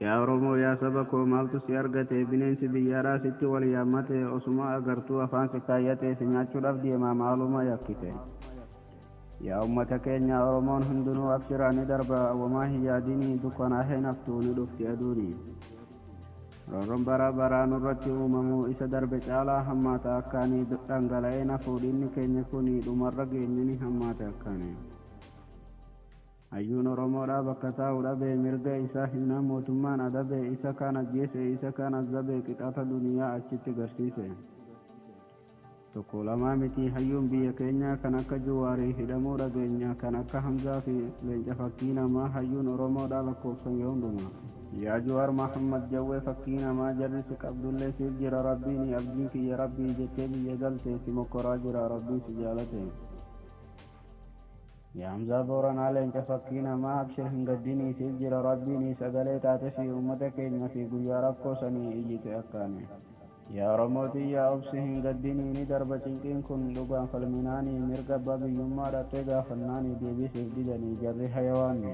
Yaa Oromoo yaa saba koo maaltu si argate bineensi biyyaadhaa sitti wal yaammate osuma agartuu afaan si kaayyate si nyaachuudhaaf deema maaluma yakkite Yaa ummata keenya Oromoon hundinuu abshiraa ni darba wamaa hin yaadini dukkanaahee hin haftu ni dhufti aduuni. Roorroon baraa baraa nurratti uumamu isa darbe caalaa hammaata akkaani dhangala'ee nafuu dhiigni keenya kuni dhumarra geenye ni hammaate akkaani. Hayyuun Oromoodhaa bakka taa'u dhabee mirga isaa himnaan mootummaan adabee isa kaan ajjeese isa kaan azzabe qixaata duniyaa achitti garsiise. Tokko lamaa miti hayyuun biyya keenyaa kan akka Juwaarii hidhamuu dhageenya kan akka Hamzaa fi Leenca fakkii namaa hayyuun Oromoodhaa lakkoofsan yoo hundumaa. Yaa Juwaar Mahammad Jawwee fakkii namaa jarri si qabdullee siif jira Rabbiini abdiin kiyya Rabbii jettee biyya galte si mokkoraa jira Rabbiin si jaalate. Yaa Hamzaa Booranaa Leenca fakkii namaa abshir hin gaddini siif jira Rabbiini sagalee taatefii uummata keenyafii guyyaa rakkoo sanii iyyite akkaani. Yaa Oromoo tiyya obsi hin gaddini ni darba cinqiin kun dhugaan falminaani mirga abbaa biyyummaa dhaqxee gaafannaani deebii siif didani jarri hayawaanni.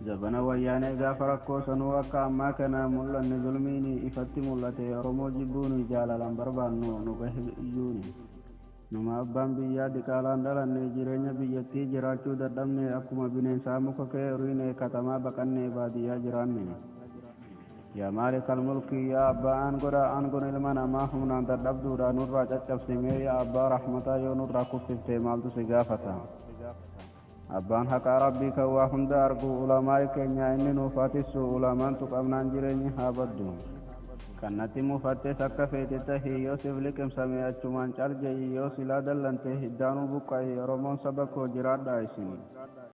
Zabana wayyaanee gaafa rakkoo sanuu akka ammaa kana hin mul'anne zulmiini ifatti mul'ate Oromoo jibbuuni jaalalaan barbaannu nu gahe iyyuuni. Numa abbaan biyyaa diqaalaan dhalanne jireenya biyyattii jiraachuu dadhabne akkuma bineensaa muka kee uriine katamaa baqannee baadiyyaa jiraanne. Yaa maalikal mulkii yaa abbaa aangodhaa aangon ilma namaa humnaan dadhabduudhaa nurraa caccabsimee yaa abbaa rahmataa yoo nurraa kuffiftee maaltu si gaafata. Abbaan haqaa Rabbii kan waa hunda argu ulamaa'i keenyaa inni nuuf haa tissu ulamaan tuqamnaan jireenyi haa baddu. Kan natti mufattes akka feete tahi yoo sif liqimsame achumaan cal je'i yoo silaa dallante hiddaanuu buqqa'i oromoon saba koo jiraadhaa isin.